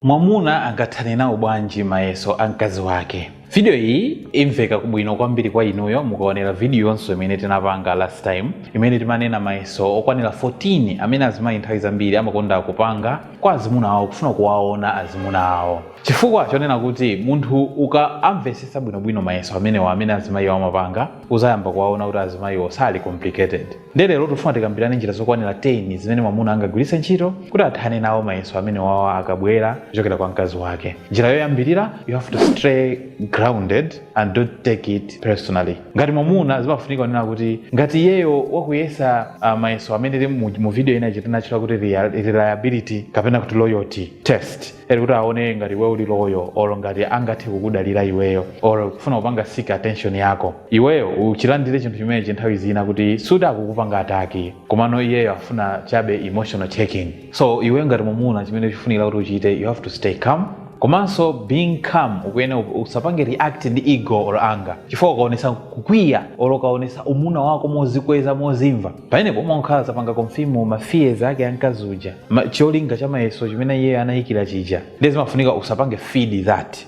Mwamuna angathane nawo bwanji mayeso a mkazi wake? Video iyi imveka bwino kwambiri kwa inuyo mukaonera video yonse imene tinapanga last time imene timanena mayeso okwanira 14 amene azimayi nthawi zambiri amakonda kupanga kwa azimuna awo kufuna kuwaona azimuna awo. Chifukwa chonena kuti munthu ukamvesesa bwinobwino mayeso amenewa amene azimayiwa amapanga uzayamba kuwaona kuti azimayiwo sali complicated. Ndiye lero tikufuna tikambirane njira zokwanira 10 zimene mwamuna angagwiritse ntchito kuti athane nawo mayeso amene awa akabwera kuchokera kwa mkazi wake. Njira yoyambirira, you have to stay grounded and don't take it personally. Ngati mwamuna zimafunika kunena kuti ngati iyeyo wakuyesa ah, mayeso amene ali mu, mu video ina ija tinatchula kuti real- reliability kapena kuti loyalty test kuti aone ngati iwe uli loyal or ngati angathe kukudalira iweyo or kufuna kupanga seek attention yako iweyo uchilandire chinthu chimenechi nthawi zina kuti suti akukupanga ataki komano iyeyo afuna chabe emotional checking so iweyo ngati mumuna chimene chifunikira kuti uchite you have to stay calm komanso being calm ukuyena usapange react ndi ego or anger chifukwa ukaonesa kukwiya or ukaonesa umuna wako mozikweza mozimva Pamenepo umakhala wapanga confirm ma fears ake a mkazi uja, cholinga cha mayeso chimene iyeyo anayikira chija ndiye zimafunika usapange feed that.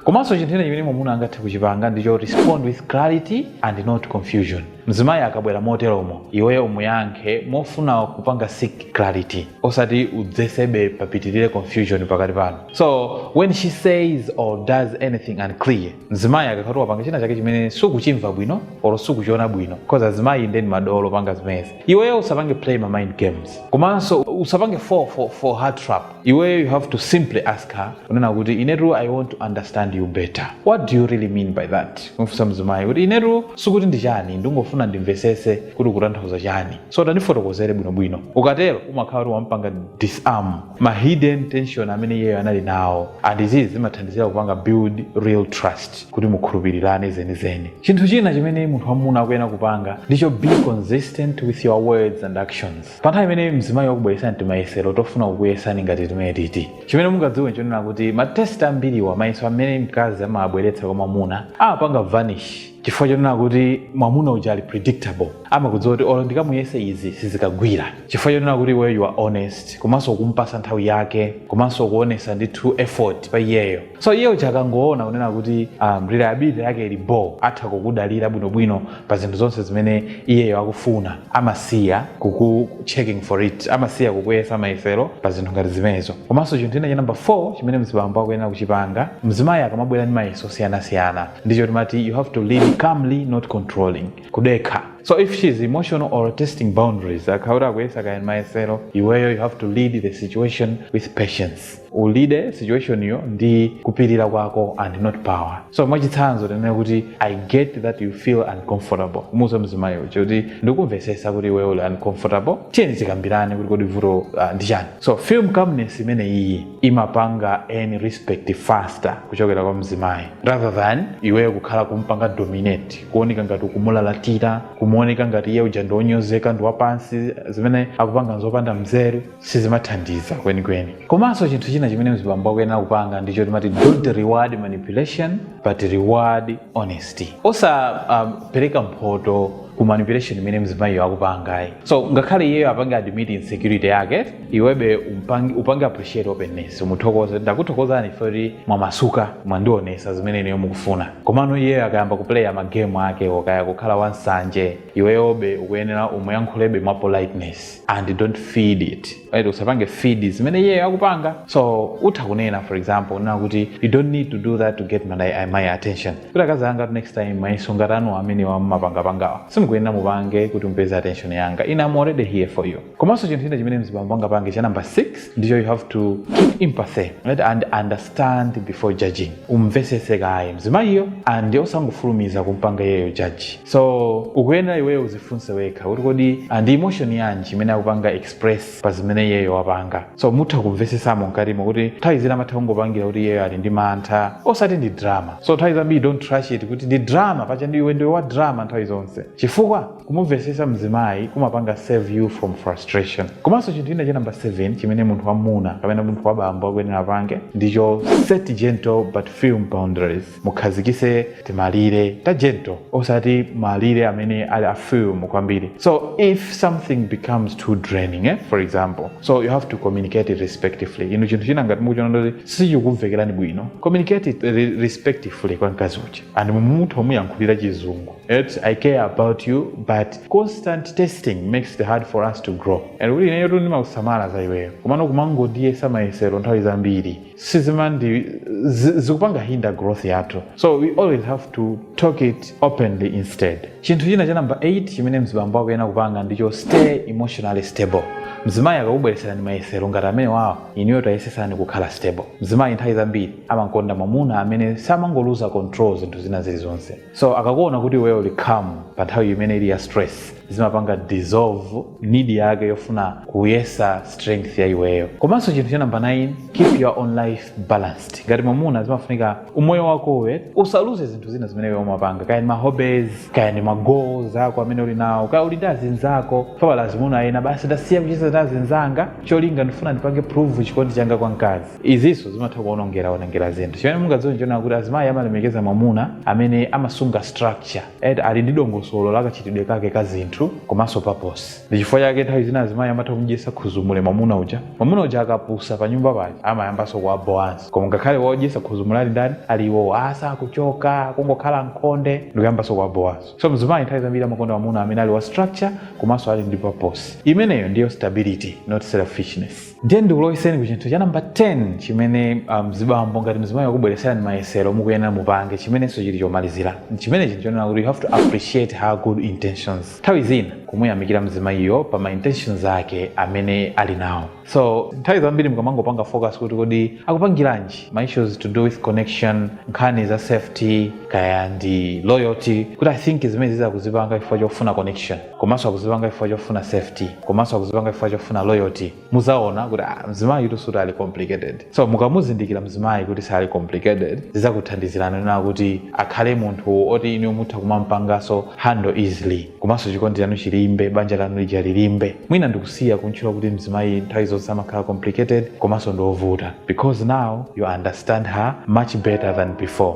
Komanso chinthu china chimene mwamuna angathe kuchipanga ndicho respond with clarity and not confusion. Mzimayi akabwera moteromo iweyo umuyankhe mofuna kupanga seek clarity osati udzetsebe papitirire confusion pakati panu. So when she says or does anything unclear, mzimayi akakhala kuti wapanga china chake chimene sukuchimva bwino or sukuchiona bwino because azimayi ndi madolo opanga zimenezi iweyo usapange play ma mind games komanso usapange fall for, for her trap iweyo you have to simply ask her kunena kuti inetu i want to understand you better what do you really mean by that kumfunsa mzimayi kuti inetu sikuti ndi chani ndingofuna ndimvesese kuti ukutanthauza chani so tandifotokozere bwinobwino ukatero umakhala kuti wampanga disarm ma hidden tension amene iyeyo anali nawo and izi zimathandizira kupanga build real trust kuti mukhulupirirane zenizeni chinthu china chimene munthu wamuna akuyenera kupanga ndicho be consistent with your words and actions pa nthawi imene mzimayi wakubweresa timayesero tofuna kukuyesani ngati timeneti chimene mungadziwe nchonena kuti matest ambiriwa mayeso amene mkazi amabweretsa kwa mwamuna amapanga vanish chifukwa chonena kuti mwamuna uja ali predictable amakudziwa kuti olo ndikamuyesa izi sizikagwira chifukwa chonena kuti iweyo you are honest komanso ukumpasa nthawi yake komanso ukuonesa ndi true effort pa iyeyo so iye uja akangoona kunena kuti um, reliability yake ili bo atha kukudalira bwinobwino pa zinthu zonse zimene iyeyo akufuna amasiya kuku checking for it amasiya kukuyesa mayesero pa zinthu ngati zimenezo komanso chinthu china cha number 4 chimene mzibambo akuyenera kuchipanga mzimayi akamabwera ndi mayeso osiyanasiyana ndicho timati you have to lead calmly not controlling kudekha so if she is emotional or testing boundaries akhala kuti akuyesa kaya mayesero iweyo you have to lead the situation with patience ulide situation yo ndi kupirira kwako and not power so mwachitsanzo tinene kuti i get that you feel uncomfortable umuuze mzimayi uja kuti ndikumvesesa kuti iweyo uli uncomfortable tiyeni tikambirane kuti kodi vuto uh, ndi chani so film calmness imene iyi imapanga earn respect faster kuchokera kwa mzimayi rather than iweyo kukhala kumpanga dominate kuoneka ngati ukumulalatira kumuoneka ngati iye uja ndi wonyozeka ndi wapansi zimene akupanga nzopanda mzeru sizimathandiza kwenikweni komanso chinthu china chimene mzibambo akuyenera kupanga ndicho timati don't reward manipulation but reward honesty osapereka um, mphoto ku manipulation imene mzimayiyo akupangayi so ngakhale iyeyo apange admit insecurity yake iwebe umpangi, upange appreciate openness umuthokoze ndakuthokozani ife kuti mwamasuka mwandionesa zimene ineyo mukufuna komano iyeyo akayamba kuplaya magame ake okaya kukhala wansanje iweyobe ukuyenera umuyankhulebe mwa politeness and don't feed it right? usapange feed zimene iyeyo akupanga so utha kunena for example unena kuti you don't need to do that to get my, my attention kuti akazi anga next time mayeso ngati anu amene mumapangapangawa simukuyenera mupange kuti mupeze attention yanga ine am already here for you komanso chinthu china chimene mzibambo angapange cha number 6 ndicho you have to keep empathy right? and understand before judging umvesese kaye mzimayiyo and osangofulumiza kumpanga iyeyo judge so ukuyenera iweyo udzifunse wekha kuti kodi ah, ndi emotion yanji imene akupanga express pa zimene iyeyo wapanga so mutha kumvesesamo mkatimo kuti nthawi zina amatha kungopangira kuti iyeyo ali ndi mantha osati ndi drama so nthawi zambiri don't trash it kuti ndi drama paja ndi iwe ndiwe wa drama nthawi zonse chifukwa Kumumvesesa mzimayi kumapanga save you from frustration. Komanso chinthu china cha number 7 chimene munthu wamamuna kapena munthu wabambo akuyenera apange ndicho set gentle but firm boundaries. Mukhazikise timalire ta gentle osati malire amene ali a firm kwambiri. So if something becomes too draining eh, for example, so you have to communicate it respectifully. Inu chinthu china ngati mukuchiona kuti sichikukumvekerani bwino, communicate it re respectifully kwa mkazi uja and mutha kumuyankhulira chizungu. It's, I care about you but constant testing makes it hard for us to grow and kuti ineyotu ndimakusamala za iweyo komano kumangondiyesa mayesero nthawi zambiri sizimandi zi- zikupanga hinder growth yathu so we always have to talk it openly instead chinthu china cha namba 8 chimene mzibambo akuyenera kupanga ndicho stay emotionally stable mzimayi akakubwereserani mayesero ngati amenewawo inuyo tayesesani kukhala stable mzimayi nthawi zambiri amakonda mwamuna amene samangoluza control zinthu zina zilizonse so akakuona kuti iweyo uli calm pa nthawi imene ili ya stress zimapanga dissolve need yake yofuna kuyesa strength ya iweyo komanso chinthu cha namba 9 keep your own life balanced ngati mwamuna zimafunika umoyo wakowe usaluze zinthu zina zimene iwe umapanga kaya ndi mahobbies kaya ndi magoals ako amene uli nawo kaya uli ndi azinzako paja pali azimuna ena basi ndasiya kucheza ndi azinzanga cholinga ndifuna ndipange prove chikondi changa kwa mkazi izinso zimatha kuonongera onongera zinthu chimene mungadziwe nchonena kuti azimayi amalemekeza mwamuna amene amasunga structure ali ndi dongosolo la kachitidwe kake ka zinthu komanso paposi ndi chifukwa chake nthawi zina azimayi amatha kumdyesa khuzumule mwamuna uja mwamuna uja akapusa pa nyumba pake amayambanso kuwabowanso koma ngakhale wodyesa khuzumule ali ndani ali iwowo osakuchoka kungokhala m'khonde ndikuyambanso kuwabowanso so mzimayi nthawi zambiri amakonda mwamuna amene ali wa structure komanso ali ndi paposi imeneyo ndiyo stability not selfishness ndiye ndikulowetseni ku chinthu cha namba 10 chimene mzibambo um, ngati mzimayi wakubweretserani mayesero mukuyenera mupange chimenenso chili chomalizira chimene chili chonena kuti you have to appreciate her good intentions nthawi zina kumuyamikira mzimayiyo pa ma intentions ake amene ali nawo so nthawi zambiri mukamangopanga focus kuti kodi akupangiranji ma issues to do with connection nkhani za safety kaya ndi loyalty kuti i think zimenezi akuzipanga chifukwa chofuna connection komanso akuzipanga chifukwa chofuna safety komanso akuzipanga chifukwa chofuna loyalty muzaona kuti ah, mzimayi uyutu sikuti ali complicated so mukamuzindikira mzimayi kuti sali complicated zizakuthandizirani kunena kuti akhale munthu oti inu mutha kumampanganso handle easily komanso chikondi chanu chilimbe banja lanu lija lilimbe mwina ndikusiya kumutchula kuti mzimayi nthawi zonse amakhala complicated komanso ndiovuta because now you understand her much better than before